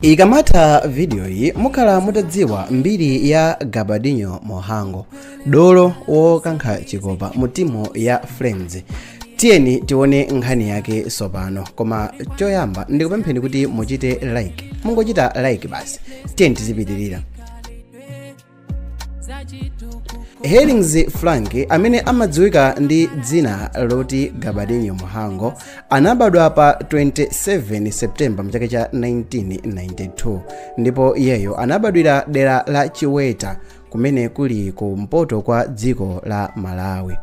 ikamatha vidiyoyi mukhala mutadziwa mbiri ya gabadinho mhango dolo wokankha chikopa mu timu ya flames tiyeni tione nkhani yake tsopano koma choyamba ndikupempheni kuti muchite like mungochita like basi tiyeni tizipitirira hellings frank amene amadziwika ndi dzina loti gabadinho mhango anabadwa pa 27 september mchaka cha 1992 ndipo iyeyo anabadwira dera la chiweta kumene kuli kumpoto kwa dziko la malawi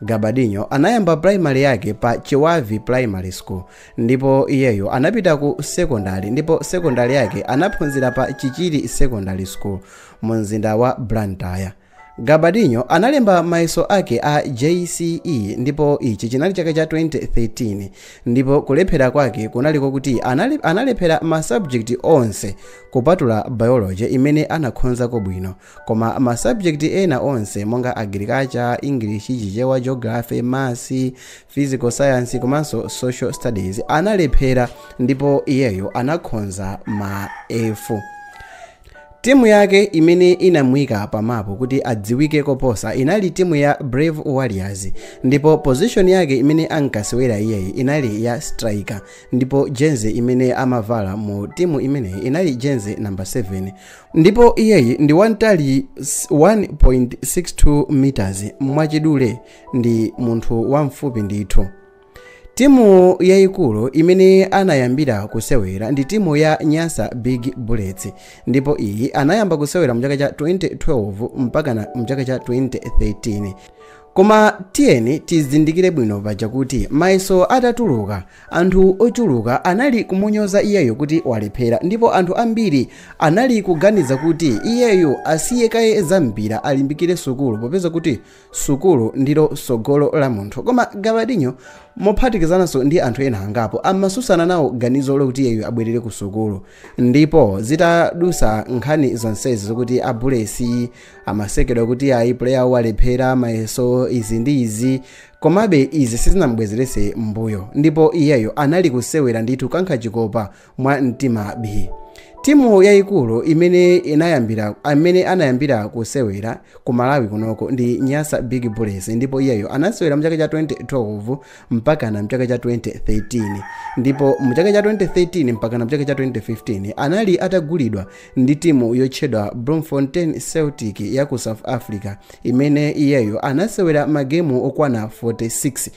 gabadinho anayamba primary yake pa chibavi primary school ndipo iyeyo anapita ku secondary ndipo secondary yake anaphunzira pa chichiri secondary school mu mzinda wa Blantyre. Gabadinho analemba mayeso ake a jce ndipo ichi chinali chaka cha 2013 ndipo kulephera kwake kunali kokuti analephera masabjekiti onse kupatula biology imene anakhozako bwino koma masabjekiti ena onse monga agriculture english chichewa geography masi physical science komanso social studies analephera ndipo iyeyo anakhoza ma f Timu yake imene inamuika pa mapu kuti adziwike koposa inali timu ya Brave Warriors ndipo position yake imene ankasewera iyeyi inali ya striker ndipo jersey imene amavala mu timu imeneyi inali jersey number 7 ndipo iyeyi ndi wantali 1.62 meters mwachidule ndi munthu wamfupi ndithu timu yayikulu imene anayambira kusewera ndi timu ya nyasa big bullets ndipo iyi anayamba kusewera mu chaka cha 2012 mpaka mchaka cha 2013 koma tiyeni tizindikire bwino paja kuti mayeso atatuluka anthu ochuluka anali kumunyoza iyeyo kuti walephera ndipo anthu ambiri anali kuganiza kuti iyeyo asiye kaye za mpira alimbikire sukulu popeza kuti Sukulu ndilo tsogolo la munthu. Koma Gabadinho, mophatikizananso ndi anthu ena angapo, amatsutsana nawo ganizo lokuti iyeyo abwerere ku sukulu. Ndipo zitadusa nkhani zonsezi zokuti a Bullets amasekedwa kuti ayi player awo walephera mayeso izi ndi izi, komabe izi sizinamubwezerese mbuyo. Ndipo iyeyo anali kusewera ndithu kukankha chikopa mwa mtima bii timu yayikulu imene imene anayambira kusewera ku malawi kunoko ndi nyasa big bullets ndipo iyeyo anasewera mchaka cha 2012 mpakana mchaka cha 2013 ndipo mchaka cha 2013 mpakana mchaka cha 2015 anali atagulidwa ndi timu yotchedwa bloemfontein celtic ya ku south africa imene iyeyo anasewera magemu okwana 46